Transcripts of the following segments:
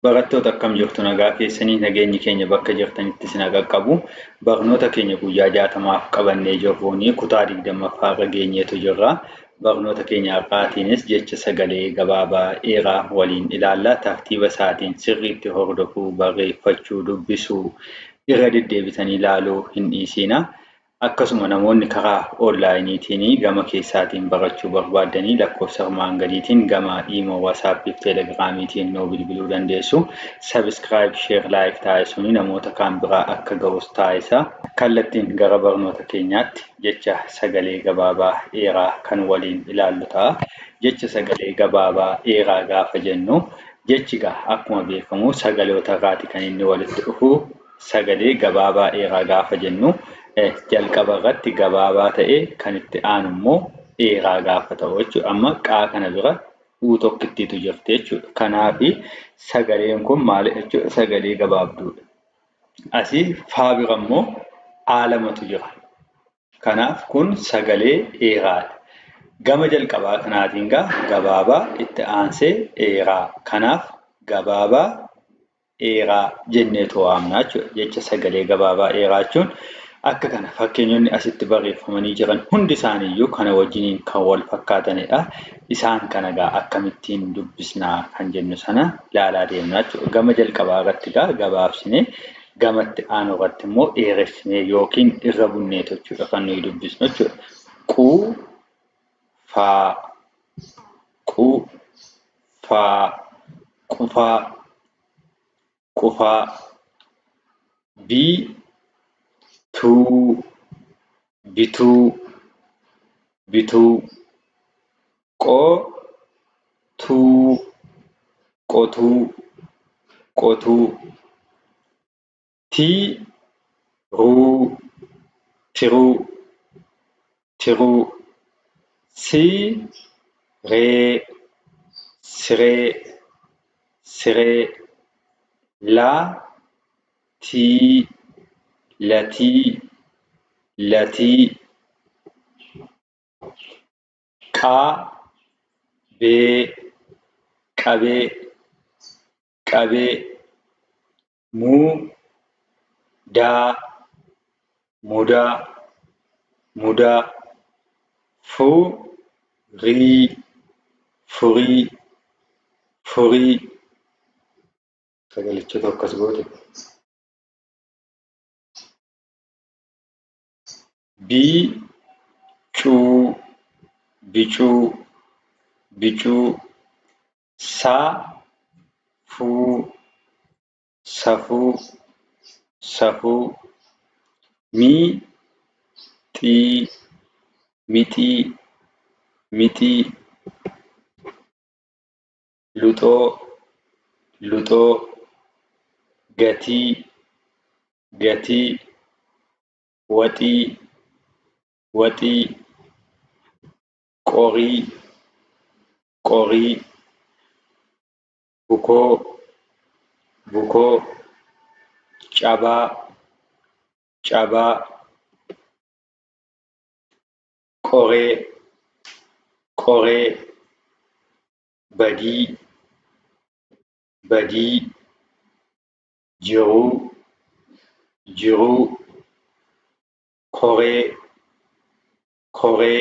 Barattoota akkam jirtu nagaa keessanii nageenyi keenya bakka jirtanitti isin qaqqabu barnoota keenya guyyaa jaatamaaf qabannee jirruun kutaa digdammaffaa irra geenyeetu jirra barnoota keenya har'aatiinis jecha sagalee gabaabaa dheeraa waliin ilaalla tartiiba isaatiin sirriitti hordofuu barreeffachuu dubbisuu irra deddeebitanii ilaaluu hin dhiisiina Akkasuma namoonni karaa onlaayiniitiin gama keessaatiin barachuu barbaaddanii lakkoofsa armaan gadiitiin gama Imo, Whatsapp fi Telegramiitiin nuu bilbiluu dandeessu. Subscribe, Share, Like taasisuun namoota kaan bira akka gahus taasisaa. Kallattiin gara barnoota keenyaatti jecha sagalee gabaabaa dheeraa kan waliin ilaallu ta'a. Jecha sagalee gabaabaa dheeraa gaafa jennu jechi egaa akkuma beekamu sagaloota irraati kan inni walitti dhufu. Sagalee gabaabaa dheeraa gaafa jennu jalqaba irratti gabaabaa ta'ee kan itti aanu immoo dheeraa gaafa ta'u jechuudha. Amma qaa kana bira uu tokkittiitu jirti jechuudha. Kanaaf sagaleen kun maali jechuudha sagalee gabaabduudha. Asii faa bira immoo aa lamatu jira. Kanaaf kun sagalee dheeraadha. Gama jalqabaa kanaatiin gaa gabaabaa itti aansee dheeraa. Kanaaf gabaabaa dheeraa jenneetu waamna jechuudha. Jecha sagalee gabaabaa dheeraa jechuun akka kana fakkeenyonni asitti barreeffamanii jiran hundi isaaniiyyuu kana wajjiniin kan wal fakkaatanidha. Isaan kana gaa akkamittiin dubbisnaa kan jennu sana laalaa deemna jechuudha. Gama jalqabaa irratti gaa gabaabsinee gamatti aanu irratti immoo dheeressinee yookiin irra bunneetu jechuudha kan nuyi dubbisnu jechuudha. Quu faa qu faa qufaa qufaa bi tuu bituu bituu qo tuu qotuu qotuu. tii ruu tiruu tiruu sii ree siree siree laa tii latii latii qaa bee qabee qabee mudaa mudaa mudaa furii furii furii sagalichatu akkas goote bicuu bicuu bicuu Saa fuu safuu safuu Mii xii mixii mixii Luxoo luxoo Gatii gatii Waxii waxii Qorii qorii bukoo bukoo cabaa cabaa qoree qoree badii badii jiruu jiruu koree koree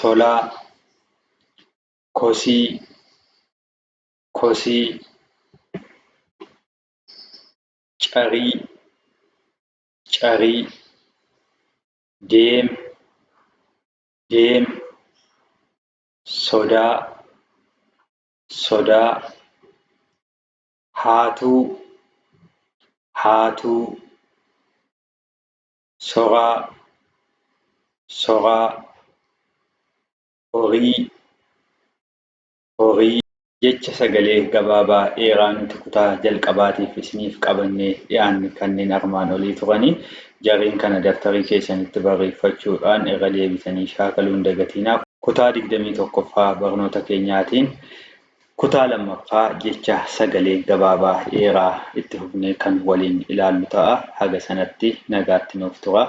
tolaa kosii kosii carii carii deem deem sodaa sodaa haatuu haatuu soraa soraa horii horii jecha sagalee gabaabaa dheeraa nuti kutaa jalqabaatiif isiniif qabannee dhiyaanne kanneen armaan olii turanii jarreen kana dabtarii keessanitti barreeffachuudhaan irra deebitanii shaakaluun dagatiinaa kutaa 21ffaa barnoota keenyaatiin Kutaa lammaffaa jecha sagalee gabaabaa dheeraa itti fufnee kan waliin ilaallu ta'a. Haga sanatti nagaatti nuuf turaa.